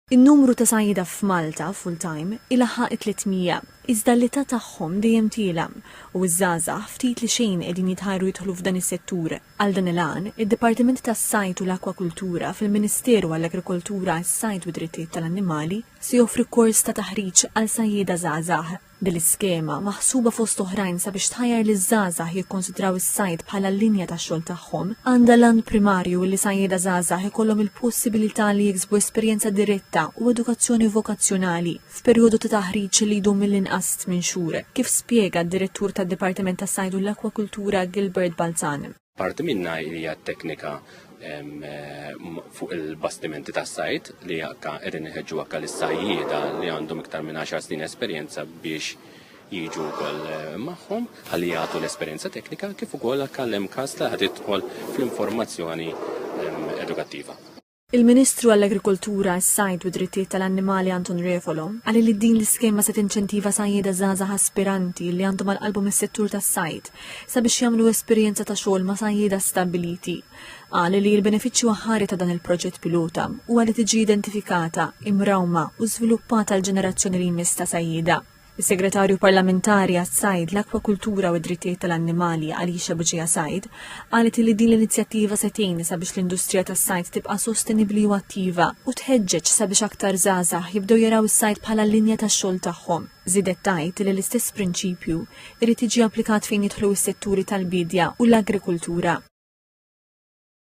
In-numru ta' sajjieda f'Malta full-time ilaħħaq it-tliet mija, iżda l-età tagħhom dejjem tiela', u ż-żgħażagħ ftit li xejn qegħdin jitħajru jidħlu f'dan is-settur. Għal dan il-għan, id-Dipartiment tas-Sajd u l-Akkwakultura fil-Ministeru għall-Agrikoltura, is-Sajd u d-Drittijiet tal-Annimali se joffri kors ta' taħriġ għal sajjieda żgħażagħ. Din l-iskema, maħsuba fost oħrajn sabiex tħajjar liż-żgħażagħ jikkonsidraw is-sajd bħala l-linja tax-xogħol tagħhom, għandha l-għan primarju li sajjieda żgħażagħ ikollhom il-possibilità li jiksbu esperjenza diretta u edukazzjoni vokazzjonali f'perjodu ta' taħriġ li jdum mill-inqas tmien xhur, kif spjega d-Direttur tad-Dipartiment tas-Sajd u l-Akkwakultura Gilbert Balzan. Parti minnha hija t-teknika fuq il-bastimenti tas-sajd li akka qegħdin iħeġġu akka lis-sajjieda li għandhom iktar minn 10 snin esperjenza biex jiġu wkoll eh, magħhom ħalli jagħtu l-esperjenza teknika kif ukoll għal hemm każ li ħad idħol fl-informazzjoni edukattiva. Il-Ministru għall-Agrikoltura, is-Sajd u d-Drittijiet tal-Annimali Anton Refolo qal li din l-iskema se tinċentiva sajjieda żgħażagħ aspiranti li għandhom għal qalbhom is-settur tas-sajd sabiex jagħmlu esperjenza ta' xogħol ma' sajjieda stabbiliti. Qal li l-benefiċċju aħħari ta' dan il-proġett pilota huwa li tiġi identifikata, imrawma u żviluppata l-ġenerazzjoni li jmiss ta' sajjieda. Is-Segretarju Parlamentari għas-Sajd, l-Akwakultura u d-Drittijiet tal-Annimali, Alicia Buġija Said, qalet li din l-inizjattiva se tgħin sabiex l-industrija tas-sajd tibqa' sostenibbli u attiva u tħeġġeġ sabiex aktar żgħażagħ jibdew jaraw is-sajd bħala l-linja tax-xogħol tagħhom. Żiedet tgħid li l-istess prinċipju jrid jiġi applikat fejn jidħlu s-setturi tal-biedja u l-agrikultura.